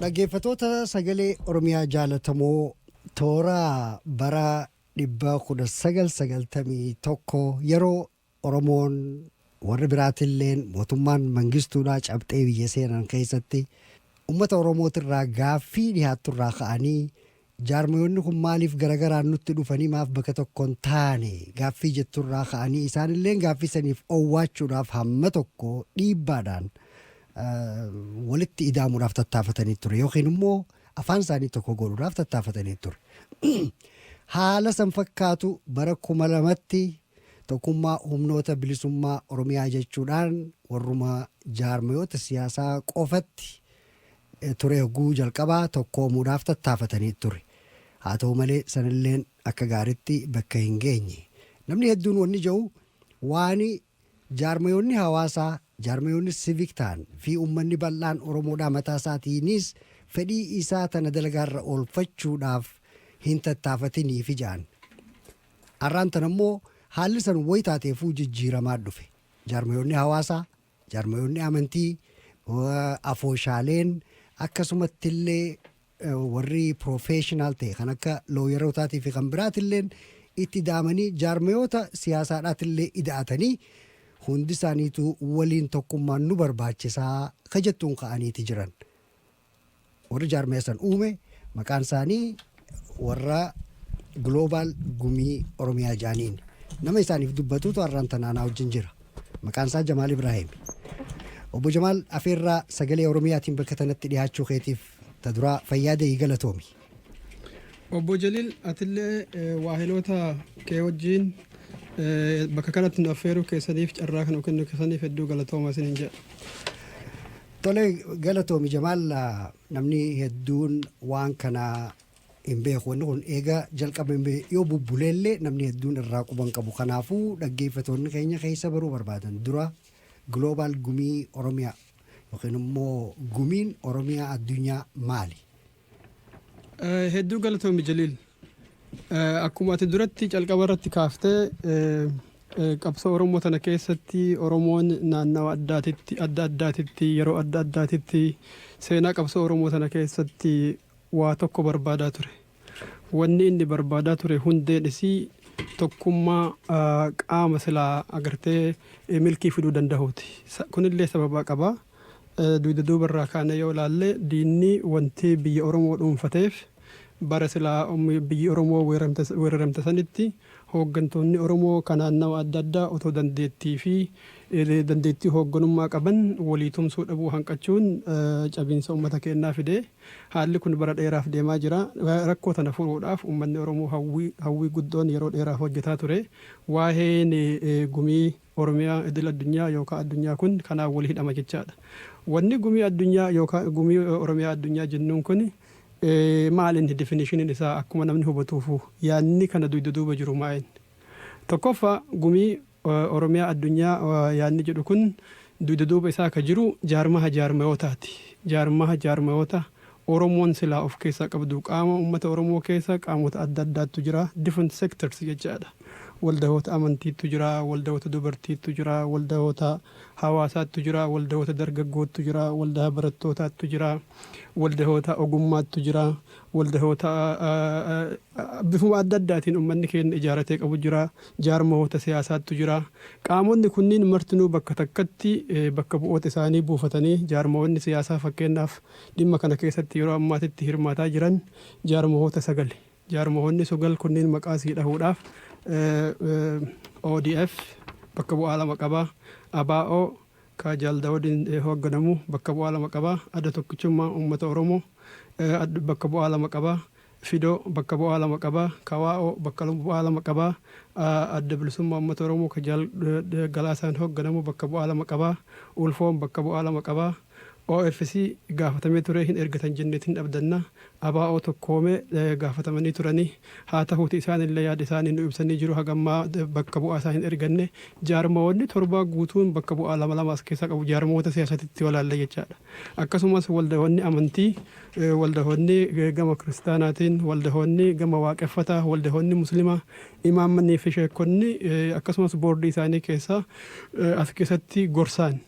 Dhaggeeffatoota sagalee Oromiyaa jaalatamoo toora bara dhibba kudha sagal sagaltamii tokko yeroo Oromoon warri biraatilleen mootummaan mangistuudhaa cabxee biyya seenan keessatti uummata Oromootirraa gaaffii dhiyaatturraa ka'anii Jaarmayoonni kun maaliif garagaraan nutti dhufanii maaf bakka tokko hin taane gaaffii jettu irraa ka'anii isaan illeen gaaffii saniif owwaachuudhaaf hamma tokko dhiibbaadhaan walitti idaamuudhaaf tattaafatanii ture yookiin immoo afaan isaanii tokko godhuudhaaf tattaafatanii ture. Haala san fakkaatu bara kuma lamatti tokkummaa humnoota bilisummaa Oromiyaa jechuudhaan warruma jaarmayoota siyaasaa qofatti ture yogguu jalqabaa tokkoomuudhaaf tattaafatanii ture. Haa ta'uu malee sanilleen akka gaaritti bakka hin geenye. Namni hedduun wanni ja'u waani jaarmayoonni hawaasaa, jaarmayoonni civic ta'an, fi ummanni bal'aan Oromoodhaa mataa isaatiiniis fedhii isaa tana dalagaa irra oolfachuudhaaf hin tattaafatiniifi ja'an. Arraan tana immoo haalli san wayi taateefuu jijjiiramaa dhufe. Jaarmayoonni hawaasaa, Jaarmayoonni amantii, afooshaaleen akkasumattillee warri professional ta'e kan akka looyerootaati fi kan biraatilleen itti ida'amanii jaarmayoota siyaasaadhaatillee ida'atanii hundi isaaniitu waliin tokkummaan nu barbaachisaa ka jettuun ka'aniiti jiran. Warri jaarmaya san uume maqaan isaanii warra Global Gumii Oromiyaa jedhaniin. Nama isaaniif dubbatutu har'aan tana anaa wajjin jira. Maqaan isaa Jamaal Ibraahiim. Obbo Jamaal afeerraa sagalee Oromiyaatiin bakka tanatti dhiyaachuu keetiif ta duraa fayyaa deeyi galatoomi. Obbo Jaliil atillee eh, waahiloota kee wajjin eh, bakka kanatti nu affeeruu keessaniif carraa kan kennu keessaniif hedduu galatooma isiniin jedha. Tole galatoomi Jamaal namni hedduun waan kana hin beeku wanni kun eega jalqabame yoo bubbuleellee namni hedduun irraa quban qabu kanaafuu dhaggeeffatoonni keenya keessa baruu barbaadan dura global gumii oromiyaa yookiin immoo gumiin oromiyaa addunyaa maali Hedduu galatoomi Jaliil. Akkuma ati duratti calqaba irratti kaaftee qabsoo Oromoo tana keessatti Oromoon naannawa addaatitti adda addaatitti yeroo adda addaatitti seenaa qabsoo Oromoo tana keessatti waa tokko barbaadaa ture. Wanni inni barbaadaa ture hundeen isii tokkummaa qaama silaa agartee milkii fiduu danda'uuti. Kunillee sababaa qabaa. Dugda duuba irraa kaanee yoo ilaalle diinni wanti biyya Oromoo dhuunfateef bara silaa biyyi Oromoo weeraramte sanitti hooggantoonni Oromoo ka naannawa adda addaa otoo dandeettii fi dandeettii hoogganummaa qaban walii tumsuu dhabuu hanqachuun cabiinsa ummata keennaa fide. Haalli kun bara dheeraaf deemaa jira. Rakkoo tana furuudhaaf ummanni Oromoo hawwii guddoon yeroo dheeraaf hojjataa ture. Waaheen gumii. Oromiyaa idil addunyaa yookaa addunyaa kun kanaan wal hidhama jechaadha. Wanni gumii addunyaa yookaa gumii Oromiyaa addunyaa jennuun kuni maal inni definishiniin isaa akkuma namni hubatuufu yaadni kana duyda duuba jiru maa inni? Tokkoffaa gumii Oromiyaa addunyaa yaadni jedhu kun duyda duuba isaa ka jiru jaarmaha jaarmayootaati. Jaarmaha jaarmayootaa Oromoon silaa of keessaa qabdu qaama ummata Oromoo keessa qaamota adda addaattu jira, different sectors jechaa dha. Waldahoota amantiittu jira, waldahoota dubartiittu jira, waldahoota hawaasaattu jira, waldahoota dargaggoottu jira, waldahaa barattootaattu jira, waldahoota ogummaattu jira, waldahoota bifuma adda addaatiin ummanni keenna ijaaratee qabu jira, jaarmahoota siyaasaattu jira. Qaamonni kunniin martinuu bakka takkatti bakka bu'oota isaanii buufatanii jaarmahoonni siyaasaa fakkeennaaf Dhimma kana keessatti yeroo ammaatitti hirmaataa jiran jaarmahoota sagali. Jaarmahoonni sogal kunniin maqaa sii dhahuudhaaf ODF bakka bu'aa lama qaba, ABO ka Jaal Dawudiin hoogganamu bakka bu'aa lama qaba, Adda Tokkichummaa Uummata Oromoo bakka bu'aa lama qaba, Fido bakka bu'aa lama qaba. KWAO bakka bu'aa lama qaba. Adda Bilisummaa Uummata Oromoo ka Jaal Galaasaan hoogganamu bakka bu'aa lama qaba. Ulfoon bakka bu'aa lama qaba. OFC gaafatamee ture hin ergitan jenneeti hin abdanna. ABO tokkoome gaafatamanii turani. Haa tahuuti isaanillee yaada isaanii nuu ibsanii jiru haga ammaa bakka bu'aa isaa hin erganne. Jaarmayoonni torbaa guutuun bakka bu'aa lama lama as keessaa qabu. Jaarmayoota siyaasatitti yoo ilaalle jechaadha. Akkasumas waldahoonni amantii, waldahoonni gama kiristaanaatiin, waldahoonni gama waaqeffataa, waldahoonni muslimaa, imaammanii fi sheekkonni akkasumas boordii isaanii keessaa as keessatti gorsaan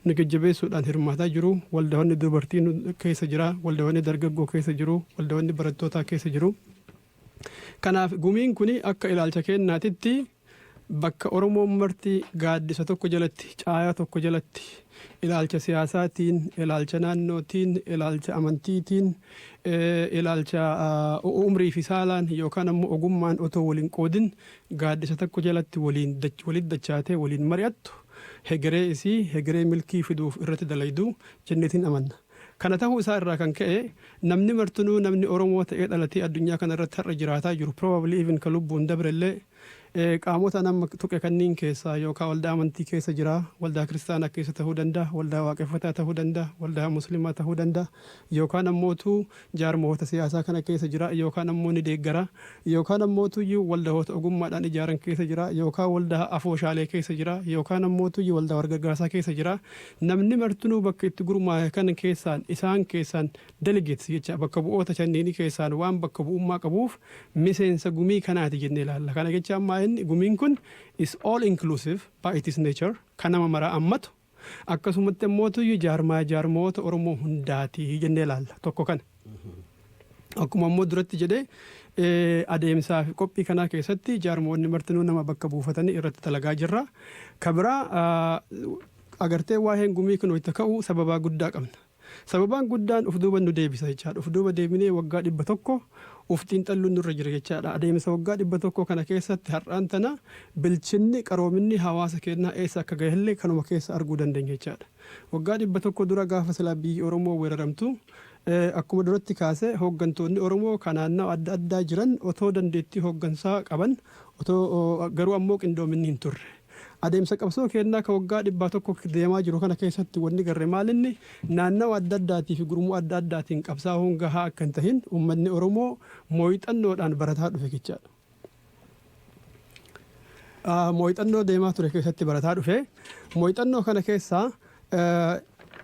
nu jajjabeessuudhaan hirmaataa jiru. Waldahoonni dubartii nu keessa jira, waldahoonni dargaggoo keessa jiru, waldahoonni barattootaa keessa jiru. Kanaaf gumiin kun akka ilaalcha keennaatitti Bakka Oromoon marti gaaddisa tokko jalatti, caayaa tokko jalatti, ilaalcha siyaasaatiin, ilaalcha naannootiin, ilaalcha amantiitiin, ilaalcha umrii fi saalaan yookaan ammoo ogummaan otoo wal hin qoodin gaaddisa tokko jalatti waliin walitti dachaatee waliin mari'attu hegeree isii hegeree milkii fiduuf irratti dalaydu jenneetiin amanna. Kana tahuu isaa irraa kan ka'e namni martinuu namni Oromoo ta'ee dhalatee addunyaa kana irratti har'a jiraataa jiru probably even ka lubbuun dabre illee qaamota an amma tuqe kanniin keessaa yookaa waldaa amantii keessa jira waldaa kiristaanaa keessa tahuu danda'a waldaa waaqeffataa tahuu danda'a waldaa muslimaa tahuu danda'a yookaan ammootuu jaarmahoota siyaasaa kana keessa jira yookaan ammoo ni deeggara yookaan ammoo tuyyu waldahoota ogummaadhaan ijaaran keessa jira yookaan waldaa afooshaalee keessa jira yookaan ammoo tuyyu waldaa wargargaarsaa keessa jira namni martinuu bakka itti gurmaahe kan keessaan isaan keessaan delegates jecha bakka bu'oota shanniini keessaan waan bakka bu'ummaa qabuuf miseensa gumii kanaati jennee ilaalla kana jechaan maa'inni gumiin kun is all inclusive by its nature kan nama maraa ammatu Akkasumatti ammoo tuyyu jaarmaaya jaarmayoota Oromoo hundaati jennee ilaalla. Tokko kana. Akkuma ammoo duratti jedhee eh, adeemsaa fi qophii kanaa keessatti jaarmoonni martinuu nama bakka buufatanii irratti dalagaa jirra. Ka biraa ah, agartee waa'een gumii kun wayita ka'u sababaa guddaa qabna. Sababaan guddaan uf duuba nu deebisa jechaadha. Uf duuba deebinee waggaa 100 uf xiinxalluun nurra jira jechaadha. Adeemsa waggaa 100 kana keessatti har'aan tana bilchinni, qaroominni hawaasa keennaa eessa akka gahellee kanuma keessa arguu dandeenya jechaadha. Waggaa 100 dura gaafa silaa biyyi Oromoo weeraramtu akkuma duratti kaase hooggantoonni Oromoo ka naannawa adda addaa jiran otoo dandeettii hooggansaa qaban otoo garuu ammoo qindoominni hin turre. Adeemsa qabsoo keennaa ka waggaa dhibbaa tokko deemaa jiru kana keessatti wanni garre maalinni, naannawa adda addaatii fi gurmuu adda addaatiin qabsaawuun gahaa akka hin tahin ummanni Oromoo mooyxannoodhaan barataa dhufe jechaa dha. Mooyxannoo deemaa ture keessatti barataa dhufe. Mooyxannoo kana keessaa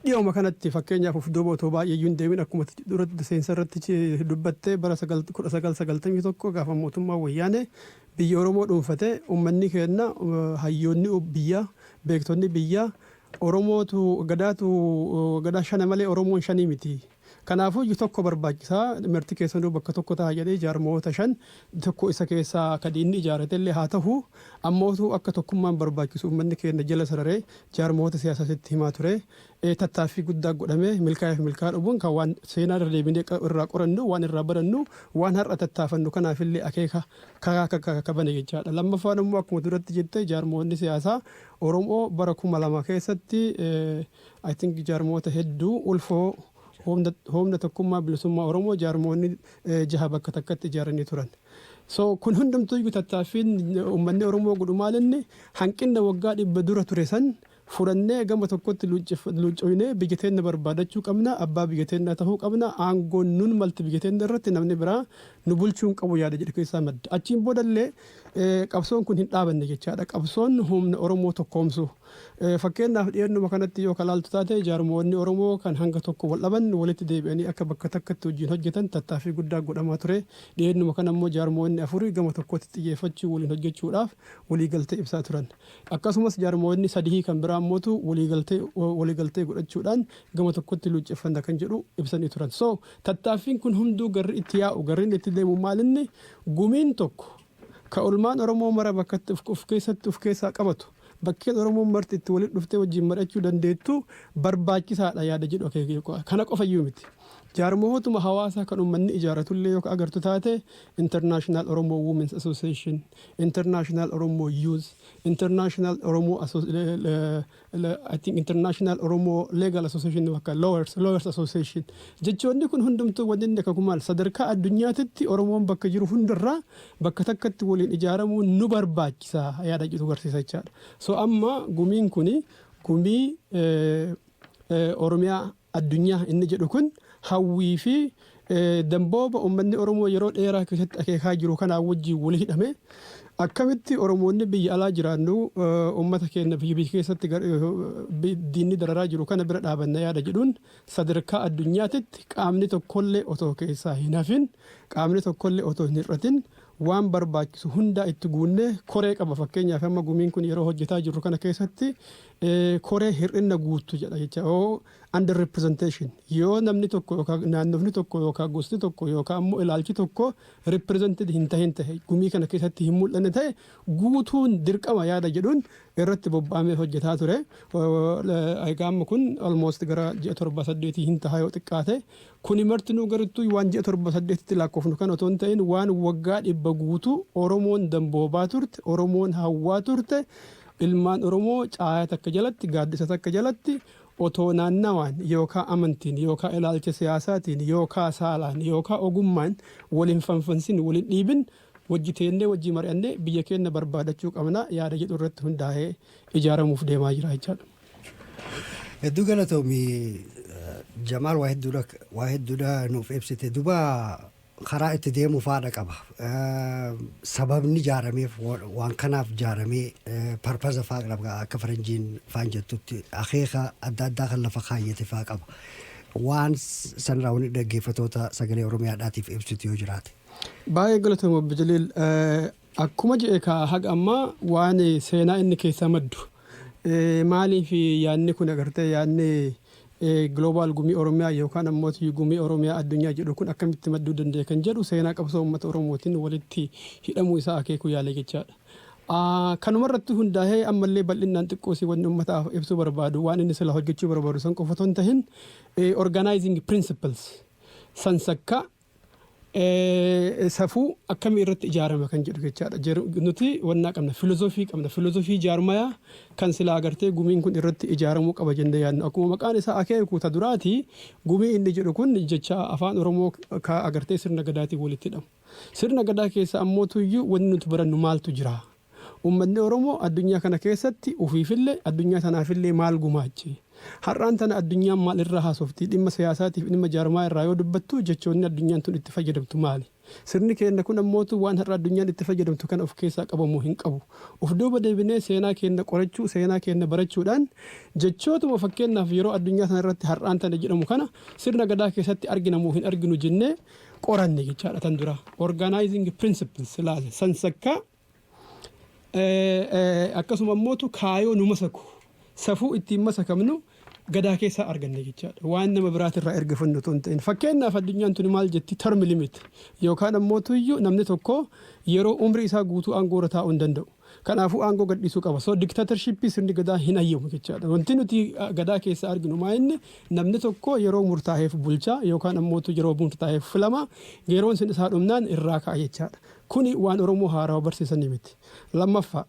dhiyooma kanatti fakkeenyaaf of duuba otoo baay'ee iyyuu hin deemin akkuma dura seensa irratti dubbattee bara 1991 gaafa mootummaa wayyaanee Biyya Oromoo dhuunfate uummanni keenna hayyoonni biyyaa, beektonni biyyaa Oromootu Gadaatu Gadaa shana malee Oromoon shanii miti. Kanaafuyyu tokko barbaachisa marti keessanuu bakka tokko taha jedhee jaarmayoota shan tokko isa keessaa ka diinni ijaaratellee haa tahu ammootu akka tokkummaan barbaachisu uummanni keenna jala sararee jaarmayoota siyaasaas itti himaa ture. Tattaaffii guddaa godhamee milkaa'eef milkaa'aa dhufuun kan waan seenaa irra deebinee irraa qorannu, waan irraa barannu, waan har'a tattaafannu kanaaf illee akeeka karaa akka bane jechaa dha. Lammaffaan immoo akkuma duratti jette jaarmoonni siyaasaa Oromoo bara 2000 keessatti I think jaarmoota hedduu ulfoo Humna Tokkummaa Bilisummaa Oromoo jaarmoonni jaha bakka takkatti ijaaranii turan. So kun hundumtuu iyyuu tattaaffiin uummanni Oromoo godhu maal inni hanqinna waggaa dhibba dura ture san fudhannee gama tokkotti luuccooynee biyya teenna barbaadachuu qabna, abbaa biyya teennaa tahuu qabna, aangoon nun malti biyya teenna irratti namni biraa nu bulchuu hin qabu yaada jedhu keessaa madda. Achiin booda illee qabsoon kun hin dhaabanne jechaa dha. Qabsoon humna Oromoo tokkoomsu. Fakkeennaaf dhiyeennuma kanatti yoo ka laaltu taate jaarmoonni Oromoo kan hanga tokko wal dhaban walitti deebi'anii akka bakka takkatti wajjiin hojjetan tattaaffii guddaa godhamaa ture. Dhiyeennuma kana immoo jaarmoonni afuri gama tokkotti xiyyeeffachuun waliin hojjechuu dhaaf walii galtee ibsaa turan. Akkasumas jaarmayootni sadihii kan biraa ammootu waliigaltee godhachuudhaan gama tokkotti luucceffanna kan jedhu ibsanii turan. So, tattaaffiin kun hunduu garri itti yaa'u, garri inni itti deemu maalinni gumiin tokko ka olmaan Oromoo mara bakkatti of keessatti of keessaa qabatu, bakkeen Oromoon marti itti walitti dhuftee wajjin mar'achuu dandeettu barbaachisaadha yaada jedhu akeekee qofa. Kana qofayyuu miti. Jaarmayootuma hawaasaa kan ummanni ijaaratullee yoo ka agartu taate International Oromo Women's Association, International Oromo Youth, International Oromo Asso- le- le- le- I think International Oromo Legal Association bakka Lawyers, Lawyers Association. Jechoonni kun hundumtuu wanni inni akaku maal sadarkaa addunyaatitti Oromoon bakka jiru hundarraa bakka takkatti waliin ijaaramuun nu barbaachisa yaada jedhu garsiisa jechaadha. So amma gumiin kuni gumii eh, eh, Oromiyaa addunyaa inni jedhu kun hawwii fi dambooba uummanni Oromoo yeroo dheeraa keessatti akeekaa jiru kanaa wajjin wal hidhame akkamitti Oromoonni biyya alaa jiraannu uummata keenya fi biyya keessatti diinni dararaa jiru kana bira dhaabanna yaada jedhuun sadarkaa addunyaatitti qaamni tokkollee otoo keessaa hin hafin qaamni tokkollee otoo hin hir'atin waan barbaachisu hundaa itti guunnee koree qaba fakkeenyaaf amma gumiin kun yeroo hojjetaa jirru kana keessatti Koree hir'inna guuttu jedha jecha o under representation yoo namni tokko yookaa naannofni tokko yookaa gosti tokko yookaa ammoo ilaalchi tokko represented hin tahin tahe gumii kana keessatti hin mul'anne tahe guutuun dirqama yaada jedhuun irratti bobba'amee hojjetaa ture. Egaa amma kun almost gara ji'a torbaa saddeetii hin taha yoo xiqqaate Kuni martinuu garuttuu waan ji'a torba saddeetitti laakkoofnu kana otoo hin ta'in waan waggaa dhibba guutuu Oromoon damboobaa turte, Oromoon hawwaa turte, ilmaan Oromoo caayaa takka jalatti, gaaddisa takka jalatti otoo naannawaan yookaa amantiin yookaa ilaalcha siyaasaatiin yookaa saalaan yookaa ogummaan wal hin fanfansin, wal hin dhiibin wajji teennee wajjii mari'annee biyya keenna barbaadachuu qabna yaada jedhu irratti hundaa'ee ijaaramuuf deemaa jira jechaadha. Hedduu galatoomi Jamaal waa hedduudha waa hedduudha nuuf ibsite duba karaa itti deemu faadha qaba sababni jaarameef waan kanaaf jaaramee parpaza faa qaba akka faranjiin faan jettutti akeeka adda addaa kan lafa kaayyate faa qaba waan sanirraa wani dhaggeeffatoota sagalee oromiyaadhaatiif ibsitu yoo jiraate. Baay'ee galatooma Obbo Jaliil. Akkuma je'e kaa haga ammaa waan seenaa inni keessaa maddu maaliif yaadni kun agartee yaadni Global Gumii Oromiyaa yookaan ammooti Gumii Oromiyaa Addunyaa jedhu kun akkamitti madduu danda'e kan jedhu seenaa qabsoo uummata Oromootiin walitti hidhamuu isaa akeekuu yaale jechaadha. Kanuma irratti hundaahee ammallee bal'innaan xiqqoosii wanni uummataaf ibsuu barbaadu waan inni silaa hojjechuu barbaadu san qofa otoo hin tahin organizing principles sansakkaa Safuu akkamii irratti ijaarama kan jedhu jechaadha. Jer nuti wannaa qabna filozofii qabna filozofii jaarmaya kan silaa agartee gumiin kun irratti ijaaramuu qaba jennee yaadnu akkuma maqaan isaa akeeku ta duraati gumii inni jedhu kun jecha afaan oromoo ka agartee sirna gadaatiin walitti hidhamu. Sirna gadaa keessa ammoo tuyyuu wanni nuti barannu maaltu jira? Ummatni Oromoo addunyaa kana keessatti ufiifille addunyaa tanaafille maal gumaache? Har'aan tana addunyaan maal irraa haasofti? Dhimma siyaasaatiif dhimma jaarmayaa irraa yoo dubbattu jechoonni addunyaan tun itti fayyadamtu maali? Sirni keenna kun ammootu waan har'a addunyaan itti fayyadamtu kana of keessaa qaba moo hin qabu? Uf duuba deebinee seenaa keenna qorachuu, seenaa keenna barachuudhaan jechootuma fakkeennaaf yeroo addunyaa tana irratti har'aan tana jedhamu kana sirna Gadaa keessatti argina moo hin arginu jennee qoranne jechaadha tan dura organizing principles ilaale san sakkaa akkasuma immootu kaayoo nu masaku safuu ittiin masakamnu gadaa keessaa arganne jechaadha waan nama biraatirraa erga funnu tun ta'in fakkeenyaaf addunyaan tuni maal jetti term limit yookaan immootu iyyuu namni tokko yeroo umrii isaa guutuu aangoorra taa'uu hin danda'u. Kanaafuu aangoo gadhiisuu qaba. So dictatorship sirni gadaa hin hayyamu jechaadha. Wanti nuti gadaa keessaa arginu maa inni namni tokko yeroo murtaaheef bulchaa yookaan ammootu yeroo murtaaheef filama yeroon sun isaa dhumnaan irraa ka'a jechaadha. Kuni waan Oromoo haarawa barsiisanii miti. Lammaffaa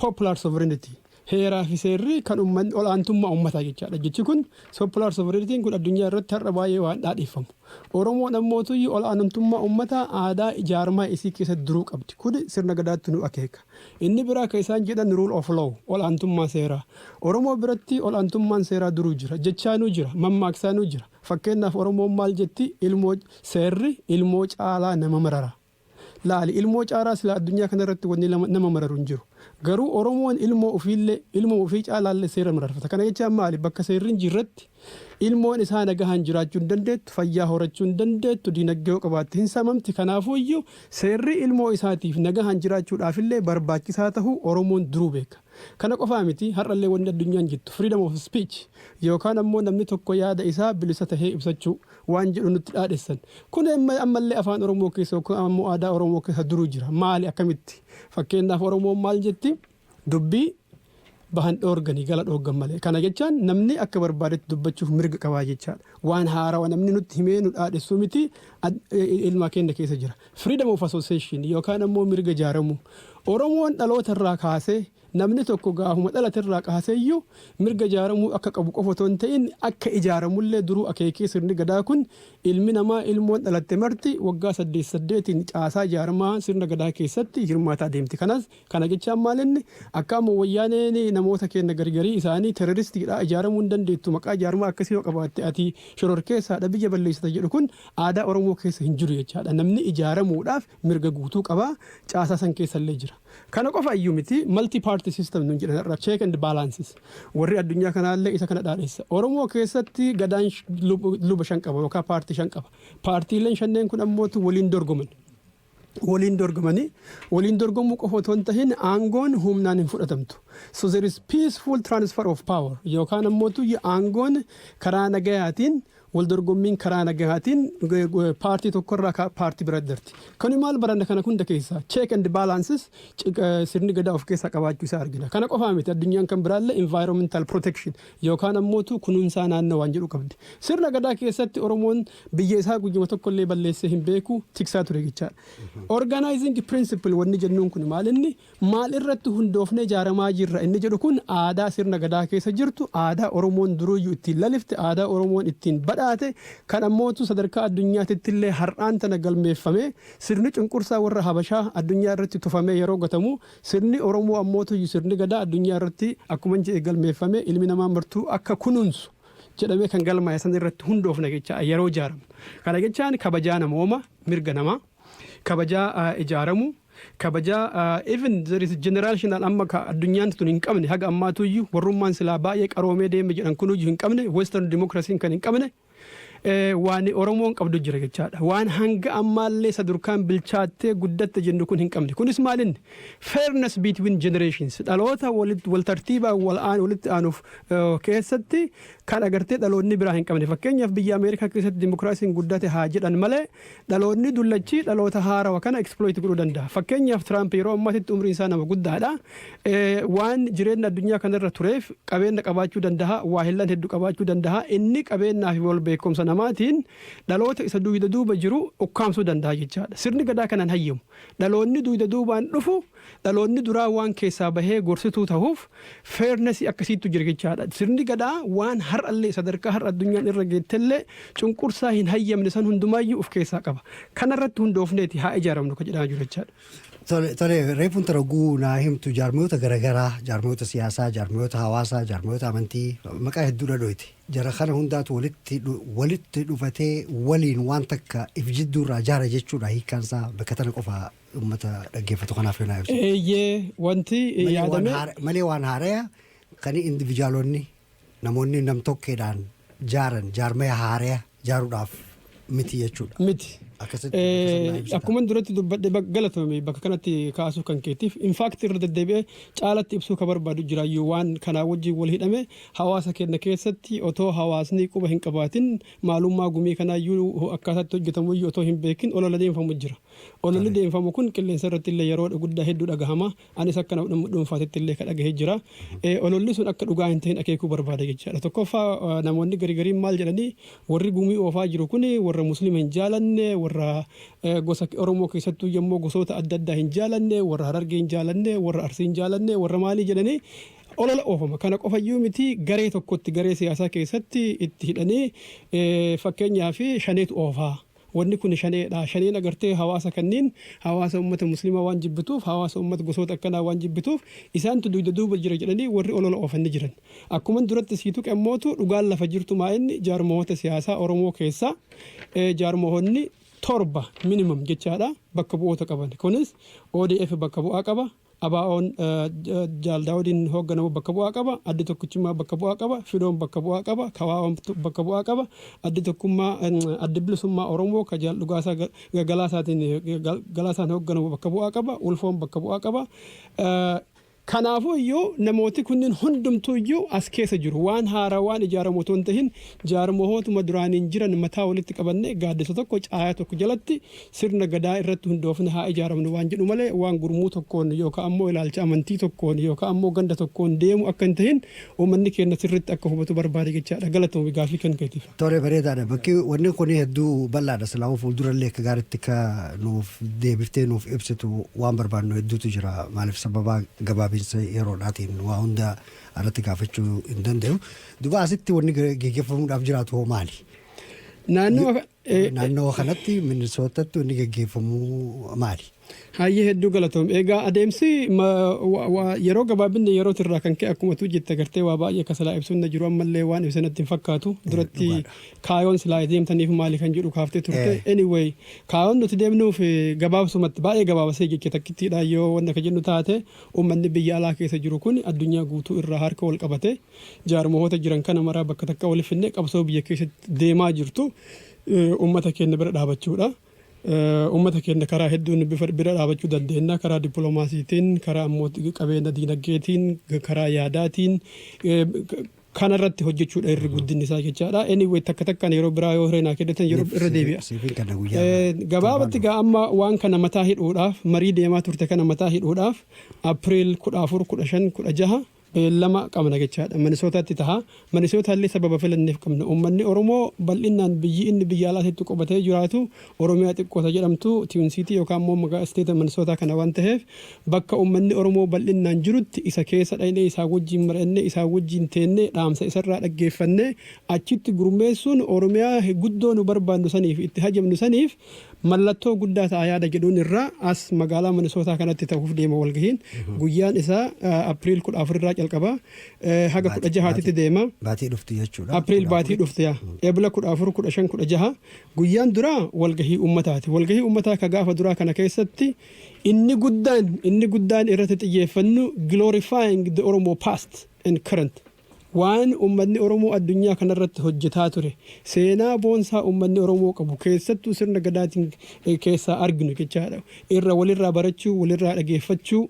popular sovereignty Heeraa fi seerri kan ummanni ol'aantummaa ummataa jechaadha. Jechi kun sopular sovereignty kun addunyaa irratti har'a baay'ee waan dhaadheeffamu. Oromoon ammootuyyuu ol'aanantummaa ummataa aadaa ijaarmaa isii keessatti duruu qabdi. Kun sirna Gadaattu nu akeeka. Inni biraa kan isaan jedhan rule of law, ol'aantummaa seeraa. Oromoo biratti ol'aantummaan seeraa duruu jira. Jechaanuu jira. Mammaaksaanuu jira. Fakkeennaaf Oromoon maal jetti? Ilmoo Seerri ilmoo caalaa nama marara. Laali ilmoo caaraa silaa addunyaa kana irratti wanni nama mararu hin jiru. Garuu Oromoon ilmoo ufiillee ilmuma ufii caalaallee seera mararfata. Kana jechaan maali? Bakka seerri hin jirretti ilmoon isaa nagahaan jiraachuu hin dandeettu, fayyaa horachuu hin dandeettu, diinagdee yoo qabaatte hin saamamti. Kanaafuuyyuu seerri ilmoo isaatiif nagahaan jiraachuudhaafillee barbaachisaa tahuu Oromoon duruu beeka. Kana qofaa miti har'allee wanni addunyaan jettu freedom of speech yookaan ammoo namni tokko yaada isaa bilisa tahee ibsachuu waan jedhu nutti dhaadhessan. Kun amma ammallee afaan Oromoo keessa yookiin ammoo aadaa Oromoo keessa duruu jira. Maali akkamitti? Fakkeenyaaf Oromoon maal jetti? Dubbii bahan dhoorganii gala dhooggan malee. Kana jechaan namni akka barbaadetti dubbachuuf mirga qabaa jechaadha. Waan haarawa namni nutti himee nu dhaadhessuu miti ad- e- e- ilmaa keenya keessa jira. Freedom of association yookaan ammoo mirga jaaramuu. Oromoon dhaloota irraa kaasee Namni tokko gaafuma dhalaterraa kaaseyyuu mirga ijaaramuu akka qabu qofa otoo hin ta'in akka ijaaramullee duruu akeekee sirni Gadaa kun ilmi namaa ilmoon dhalatte marti waggaa saddeet saddeetiin caasaa jaarmaa sirna Gadaa keessatti hirmaataa deemti. Kanas kana jechaan maalinni akka amma Wayyaaneen namoota keenna gargarii isaanii teroristiidha ijaaramuu hin dandeettu maqaa jaarmaa akkasii yoo qabaatte ati shororkeessaadha biyya balleessita jedhu kun aadaa Oromoo keessa hin jiru jechaadha. Namni ijaaramuudhaaf mirga guutuu qaba. Caasaa san keessa illee jira. Kana qofa iyyuu miti multi party system nuun jedhan har'a check and balances warri addunyaa kanaa illee isa kana dhaadheessa. Oromoo keessatti gadaan luba shan qaba yookaan paartii shan qaba. Paartiileen shanneen kun ammootu waliin dorgoman. Waliin dorgomanii waliin dorgomuu qofa otoo hin tahin aangoon humnaan hin fudhatamtu. So there is peaceful transfer of power yookaan ammootu aangoon karaa nagayaatiin Waldorgommiin karaa nagahaatiin paartii tokko irraa paartii biraatti darti. Kani maal baranna kana hunda keessaa check and balances sirni gadaa of keessaa qabaachuu isaa argina. Kana qofaa miti addunyaan kan biraallee environmental protection yookaan ammootu kunuunsaa naannoo waan jedhu qabdi. Sirna gadaa keessatti Oromoon biyya isaa guyyuma tokkollee balleessee hin beeku tiksaa ture jechaadha. Organizing principle wanni jennuun kun maal inni Maal irratti hundoofnee ijaaramaa jirra inni jedhu kun aadaa sirna Gadaa keessa jirtu, aadaa Oromoon duruuyyu ittiin lalifte, aadaa Oromoon ittiin badhaate, kan ammootu sadarkaa addunyaatitti illee har'aan tana galmeeffamee sirni cunqursaa warra Habashaa addunyaa irratti tufamee yeroo gatamu sirni Oromoo ammootuuyyu sirni Gadaa addunyaa irratti akkuman jedhe galmeeffamee ilmi namaa martuu akka kunuunsu jedhamee kan galmaa'e san irratti hundoofna jechaa yeroo ijaaramu. Kana jechaan kabajaa namooma, mirga namaa. kabajaa ijaaramu kabajaa even there is generational amma ka addunyaan tun hin qabne haga ammaatu iyyuu warrummaan silaa baay'ee qaroomee deeme jedhan kun iyyuu hin qabne western democracy kan hin qabne waan Oromoon qabdu jira jechaadha. Waan hanga ammaallee sadurkaan bilchaattee guddatte jennu kun hin qabne. Kunis maalinni fairness between generations dhaloota wal tartiibaa wal aan walitti aanuuf keessatti kan agartee dhaloonni biraa hin qabne. Fakkeenyaaf biyya Ameerikaa keessatti dimokiraasiin guddate haa jedhan malee Dhalootni dullachi dhaloota haarawa kana exploit godhuu danda'a. Fakkeenyaaf Tiraamp yeroo ammaatitti umriin isaa nama guddaadha. Waan jireenna addunyaa kanarra tureef qabeenna qabaachuu danda'a, waahillan heddu qabaachuu danda'a. Inni qabeennaa fi wal beekumsa namaatiin dhaloota isa duuyda duuba jiru ukkaamsuu danda'a jechaadha. Sirni Gadaa kana hin hayyamu. Dhaloonni duuyda duubaan dhufu Dhaloonni duraa waan keessaa bahee gorsituu tahuuf fairness akkasiittu jira jechaadha. Sirni Gadaa waan har'allee sadarkaa har'a addunyaan irra geettellee cunqursaa hin hayyamne san hundumaayyuu uf keessaa qaba. Kanarratti hundoofneeti haa ijaaramnu ka jedhaa jiru jechaadha. Tole, tole, reefu intala oguu naa himtu jaarmiyoota garagaraa, jaarmiyoota siyaasaa, jaarmiyoota hawaasaa, jaarmiyoota amantii, maqaa hedduudha dhooyte. Jara kana hundaatu walitti dhu- walitti dhufatee waliin waan takka if jidduurraa jaara jechuudha hiikkaansaa bakka tana qofa Uummata dhaggeeffatu kanaaf yoo naa ibsu. Eeyyee wanti Malee waan yaadamee haara- Malee waan haaraya kan individuaalonni namoonni namtokkeedhaan jaaran jaarmaya haaraya jaaruudhaaf miti jechuudha. miti. Akkasitti Eh, akkasitti naa ibsita. Akkuma duratti dubbadhe bak- galatoomi bakka kanatti kaasuu kan keetiif infaakti irra deddeebi'ee caalatti ibsuu kan barbaadu jiraayyuu waan kanaa wajjin wal hidhame hawaasa keenya keessatti otoo hawaasni quba hin qabaatin maalummaa gumii kanaayyuu akkaataatti hojjetamuyyuu otoo hin beekin olola deemfamu jira. Ololli deemfamu kun qilleensa irratti illee yeroo guddaa hedduu dhagahama. Anis akka nama dhuunfaatitti illee ka dhagahe jira. Ololli sun akka dhugaa hin ta'in akeekuu barbaada jechaadha. Tokkoffaa namoonni gari gariin maal jedhanii warri gumii oofaa jiru kun warra Muslima hin jaalanne, warra gosa Oromoo keessattuu yemmoo gosoota adda addaa hin jaalanne, warra Harargee hin jaalanne, warra Arsii hin jaalanne, warra maalii jedhanii olola oofama. Kana qofa iyyuu miti garee tokkotti garee siyaasaa keessatti itti hidhanii fakkeenyaaf shaneetu oofaa. Wanni kuni shanee dha. Shaneen agartee hawaasa kanniin hawaasa ummata muslimaa waan jibbituuf, hawaasa ummata gosoota akkanaa waan jibbituuf isaantu duyda duuba jira jedhanii warri olola oofan ni jiran. Akkuman duratti sii tuqe ammootu dhugaan lafa jirtu maa inni jaarmahoota siyaasaa Oromoo keessaa jaarmahoonni torba minimum jechaa dha bakka bu'oota qaban. Kunis odf bakka bu'aa qaba. ABOn Jaal Daawudiin hoogganamu bakka bu'aa qaba, Addi Tokkichummaa bakka bu'aa qaba, Fidoon bakka bu'aa qaba, KWOn bakka bu'aa qaba, Addi Tokkummaa, Addi Bilisummaa Oromoo ka Jaal Dhugaasaa Galaasaatiin, Galaasaan hoogganamu bakka bu'aa qaba, Ulfoon bakka bu'aa qaba. Kanaafuu iyyuu namooti kunniin hundumtuu iyyuu as keessa jiru. Waan haarawaan ijaaramu otoo hin tahin jaarmahootuma duraaniin jiran mataa walitti qabannee gaaddisa tokko, caayaa tokko jalatti sirna Gadaa irratti hundoofne haa ijaaramnu waan jedhu malee waan gurmuu tokkoon yookaan ammoo ilaalcha amantii tokkoon yookaan ammoo ganda tokkoon deemu akka hin tahin uummanni keenna sirriitti akka hubatu barbaada jechaa dha. Galatoomi gaaffii kan keetiif. Tole bareedaa dha. Bakki wanni kun hedduu bal'aa dha. Silaahuu fuuldura illee akka gaariitti akka nuuf deebiftee nuuf ibsitu waan barbaannu hedduutu jira. Maaliif sababa gabaabinsa yeroo dhaatiin waa hunda irratti gaafachuu hin dandayu. Duba asitti wanni geggeeffamuudhaaf jiraatu hoo maali? Naannoo Naannoo kanatti Minnesotatti wanni gaggeeffamu maali? Hayyee hedduu galatoom. Egaa adeemsi ma- wa- wa- yeroo gabaabinni yerooti irraa kan ka'e akkuma tu jette gartee waa baay'ee akka silaa ibsuun na jiru ammallee waan ibse natti hin fakkaatu. Duratti dhugaadha. kaayoon silaa deemtaniif maali kan jedhu kaaftee turte. Eh. Anyway kaayoon nuti deemnuuf eh, gabaabsumatti baay'ee gabaabasee jecha takkittiidha yoo wanna ka jennu taate uummanni biyya alaa keessa jiru kun addunyaa guutuu irraa harka wal qabatee Jaarmahoota jiran kana maraa bakka takka wali finnee qabsoo biyya keessatti deemaa jirtu ummata keenya bira dhaabachuudha. Ummata keenya karaa hedduun bira dhaabachuu dandeenya. Karaa dippiloomaasiitiin, karaa ammoo qabeenya diinagdeetiin, karaa yaadaatiin kanarratti hojjechuudha irri guddinni isaa jechaadha. Anyway takka takkaan yeroo biraa yoo hiree naa kennitan yeroo irra deebi'a. Siifin kana guyyaa Gabaabatti gaa amma waan kana mataa hidhuudhaaf marii deemaa turte kana mataa hidhuudhaaf April 14, 15, 16 beellama qabna jechaadha. Manisootaatti taha. Manisootaallee sababa filanneef qabna. Uummanni Oromoo bal'innaan biyyi inni biyya alaa teettu qubatee jiraatu Oromiyaa xiqqoo ta jedhamtu Twin City yookaan immoo magaa State Manisootaa kana waan taheef bakka uummanni Oromoo bal'innaan jirutti isa keessa dhaynee isaa wajjiin mari'annee isaa wajjiin teennee dhaamsa isarraa dhaggeeffannee achitti gurmeessuun Oromiyaa guddoo nu barbaannu saniif itti hajamnu saniif Mallattoo guddaa ta'a yaada jedhuun irraa as magaalaa Minisootaa kanatti ta'uuf deema walgahiin. Guyyaan isaa April 14 irraa calqaba haga 16 titti deema. Baatii dhuftu jechuudha. April baatii dhufte yaa. Ebla 14, 15, 16 guyyaan duraa walgahii ummataati. Walgahii ummataa ka gaafa duraa kana keessatti inni guddaan inni guddaan irratti xiyyeeffannu glorifying the Oromo past and current. Waan ummatni Oromoo addunyaa kanarratti hojjetaa ture, seenaa boonsaa ummatni Oromoo qabu, keessattuu sirna Gadaatiin keessaa arginu jechaadha, irra walirraa barachuu, walirraa dhageeffachuu,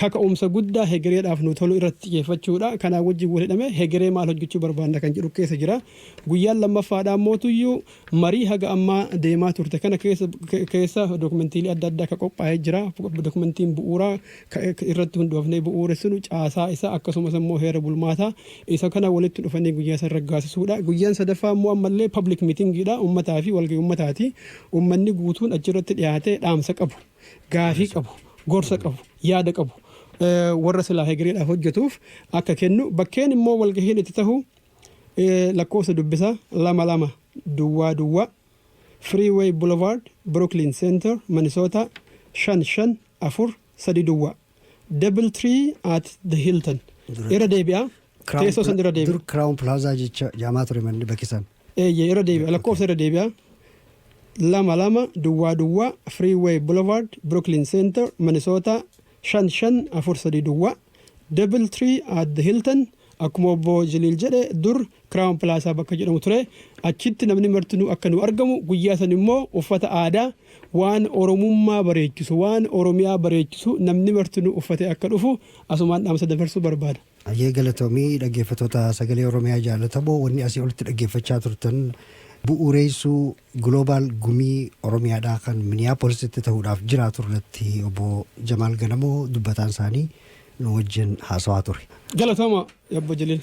kaka'umsa guddaa hegereedhaaf nuu tolu irratti xiyeeffachuudha. Kanaa wajjin wal hidhamee hegeree maal hojjechuu barbaanna kan jedhu keessa jira. Guyyaan lammaffaadhaammootuyyuu Marii haga ammaa deemaa turte kana keessa dokumentiilee adda addaa ka qophaa'ee jira. Dokumentiin bu'uuraa ka irratti hundoofnee bu'uuressinu caasaa isaa akkasumas immoo heera bulmaataa isa kana walitti dhufanii guyyaa san raggaasisuudha. Guyyaan sadaffaa immoo ammallee public meeting dha. Ummataa fi walgahii ummataati. Ummanni guutuun achirratti dhiyaatee dhaamsa qabu, gaafii qabu, gorsa qabu, yaada qabu warra silaa hegereedhaaf hojjetuuf akka kennu bakkeen immoo walgahiin itti tahu Lakkoofsa dubbisa 2 2 duwwaa duwwaa Freeway Boulevard, Brooklyn Center, Minnesota 5 5 4 3 duwwaa Double Tree at the Hilton. Dura- Irra deebi'a. Crown Teessoo san Pla- irra deebi'a. Dur Crown Plaza jecha jaamaa ture manni bakki san. Eeyyee irra deebi'a. Lakkoofsa irra deebi'a. lama lama duwwaa duwwaa Freeway Boulevard, Brooklyn Center, Minnesota 5 5 4 3 duwwaa Double Tree at the Hilton Akkuma obbo Jaliil jedhe dur Crown Plaza bakka jedhamu ture. Achitti namni martinuu akka nu argamu guyyaa san immoo uffata aadaa waan Oromummaa bareechisu, waan Oromiyaa bareechisu namni martinuu uffatee akka dhufu asumaan dhaamsa dabarsuu barbaada. Hayyee galatoomi dhaggeeffatoota sagalee Oromiyaa jaalatamoo wanni asii olitti dhaggeeffachaa turtan bu'uureessuu Global Gumii Oromiyaadhaa kan Miniyaapoolisitti ta'uudhaaf jiraatu irratti obbo Jamaal Ganamoo dubbataan isaanii nu wajjin haasawaa ture. Galatoomaa Yabbo Jiliin.